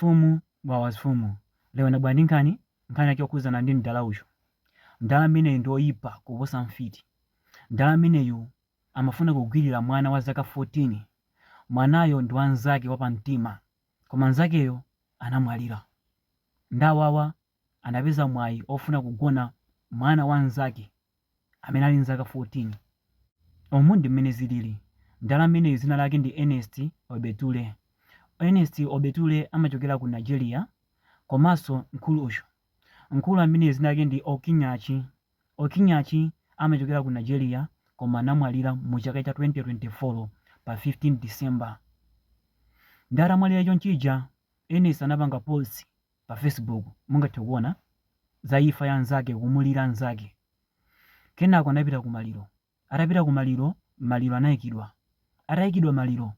Mfumu wawa zimfumu lero ndabwera ndi nkhani, nkhani yake yokhudzana ndi mdala uyu. Mdala ameneyu ndi oyipa kuposa mfiti. Mdala ameneyu amafuna kugwirira mwana wa zaka 14. Mwanayo ndi wa mnzake wapamtima koma mnzakeyo anamwalira. Ndawawa anapeza mwayi ofuna kugona mwana wa nzake amene ali nzaka 14. Umu ndi mmene zilili. Mdala ameneyu dzina lake ndi Ernest Obetule. Ernest Obetule amachokera ku Nigeria komanso mkulu uyu. Mkulu ameneyu dzina lake ndi Okinyachi. Okinyachi amachokera ku Nigeria koma anamwalira mu chaka cha 2024 pa 15 December. Nde atamwalira chonchija, Ernest anapanga post pa Facebook mungathe kuona za imfa ya nzake kumulira nzake kenako anapita ku maliro atapita ku maliro maliro anayikidwa atayikidwa maliro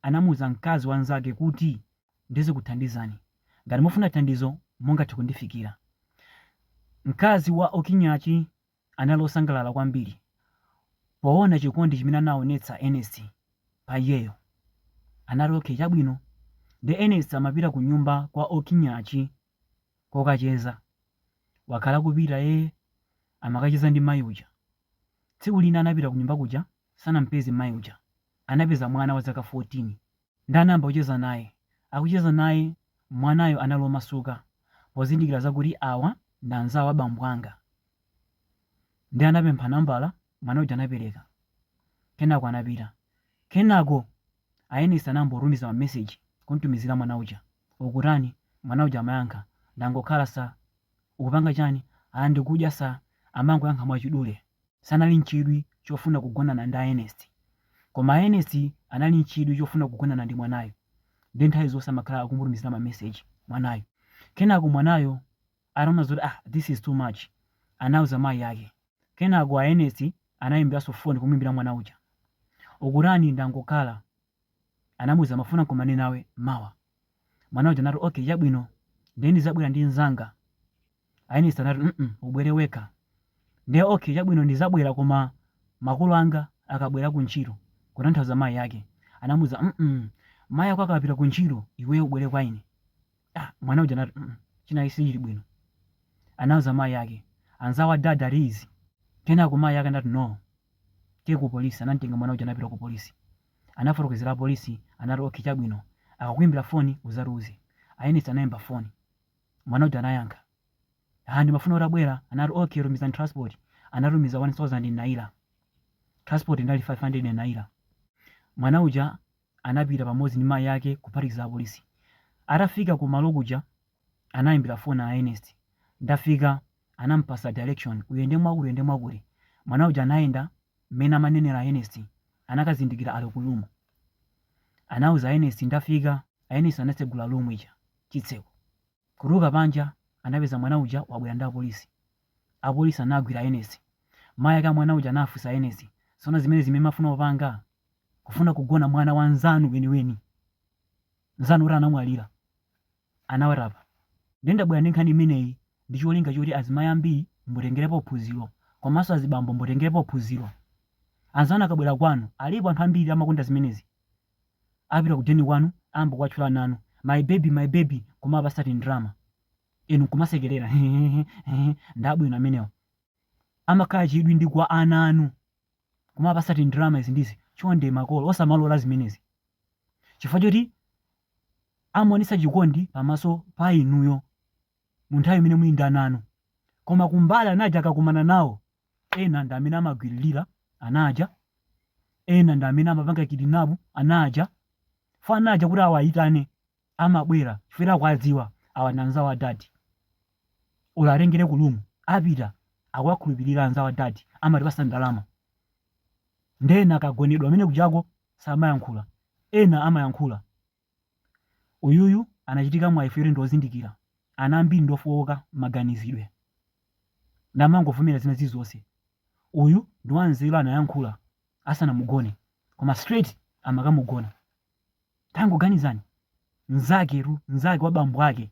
anamuuza mkazi wa nzake kuti ndizikuthandizani ngati mufuna thandizo mungathe kundifikira mkazi wa okinyachi anali osangalala kwambiri poona chikondi chimene anaonetsa Ernest pa iyeyo. Anati, Okay, chabwino. Nde Ernest amapita kunyumba kwa Okinyachi kokacheza. Wakhala akupita, eh, amakacheza ndi mayi uja. Tsiku lina anapita kunyumba kuja, sanamupeze mayi uja. Anapeza mwana wa zaka 14. Nde anayamba kucheza naye. Akucheza naye, mwanayo anali omasuka pozindikila zakuti awa ndi anzawo a bambo anga. Ndiye anapempha nambala, mwana uja anapeleka. Kenako anapita. Kenako a Ernest anayamba kutumiza ma message kumtumizila mwana uja. Ukutani? Mwana uja amayankha, ndangokhala sir. Ukupanga chani? Aah ndikudya sir. Amangoyankha mwachidule. sanali n'chidwi chofuna kugonana ndi a Ernest, koma a Ernest anali n'chidwi chofuna kugonana ndi mwanayo nde nthawi zonse amakhala akumutumizira ma message mwanayo. Kenako mwanayo ataona zoti ah this is too much anauza mayi ake. Kenako a Ernest anayimbiranso phone kumuyimbira mwana uja. Ukutani ndangokhala Anamuuza, Ndimafuna nkumane nawe mawa. Mwana uja anati, Okay, chabwino. Ndiye ndizabwera ndi nzanga. A Ernest anati, mm ubwere wekha. Ndiye, Okay, chabwino ndizabwera koma makolo anga akabwera ku ntchito, kutanthauza mayi ake. Anamuuza, mm Mayi ako akapita ku ntchito, iweyo ubwere kwa ine. ah, mwana uja anati mm, chinachi sichili bwino anauza mayi ake anzawo a dad ati izi kenako mayi ake anati no tiye ku polisi anamtenga mwana uja anapita ku polisi anafotokozera apolisi anati okay chabwino akakuimbira foni uzatiuze a Ernest anayimba foni mwana uja anayankha ah ndimafuna utabwera anati okay tumizani transport anatumiza 1000 naira transport inali 500 naira mwana uja anapita pamodzi ndi mayi ake kuphatikiza apolisi. Atafika ku malo kuja anaimbira phone a Ernest. Ndafika, anampasa direction, uyende mwakuti uyende mwakuti. Mwana uja anayenda mmene amanenera a Ernest anakazindikira ali ku room. Anauza a Ernest ndafika, a Ernest anatsegula room ija chitseko. Kutuluka panja anapeza mwana uja wabwera ndi apolisi. Apolisi anagwira Ernest. Mayi ake a mwana uja anafunsa Ernest, Zoona zimenezi zimene mumafuna kupanga? Kufuna kugona mwana wa nzanu weniweni, nzanu oti anamwalira, anawari apa. Ndiye ndabwera ndi nkhani imeneyi ndi cholinga choti azimayi ambiri mutengerepo phunziro komanso azibambo mutengerepo phunziro. Anzanu akabwera kwanu, alipo anthu ambiri amakonda zimenezi. apita ku deni kwanu ayamba kuwatchula ana anu my baby my baby kumapasa tindrama inu nkumasekerera ndabwino amenewo amakhala chidwi ndi kwa ana anu kumapasa tindrama izi ndizi chonde makolo osamalola zimenezi chifukwa choti amaonesa chikondi pamaso pa inuyo mu nthawi imene muli ndi ana anu koma kumbali ana aja akakumana nawo Ena ndi amene amagwiririra ana aja, ena ndi amene amapanga kidnap ana aja, for ana aja kuti awayitane amabwera chifukwa akuwadziwa awa ndi anzawo a dadi, olo awatengere ku room apita akuwakhulupirira anzawo a dadi amatipasa ndalama, nde ena akagonedwa kumene uja akuti samayankhula, ena amayankhula. Uyuyu anachita mwayi woti ndi ozindikira. Ana ambiri ndi ofooka maganizidwe. Ndiye amangovomera zina zilizonse. Uyu ndi wanzeru anayankhula asanamugone. Koma straight amakamugona. Tangoganizani. Mnzaketu, mnzake wa bambo ake.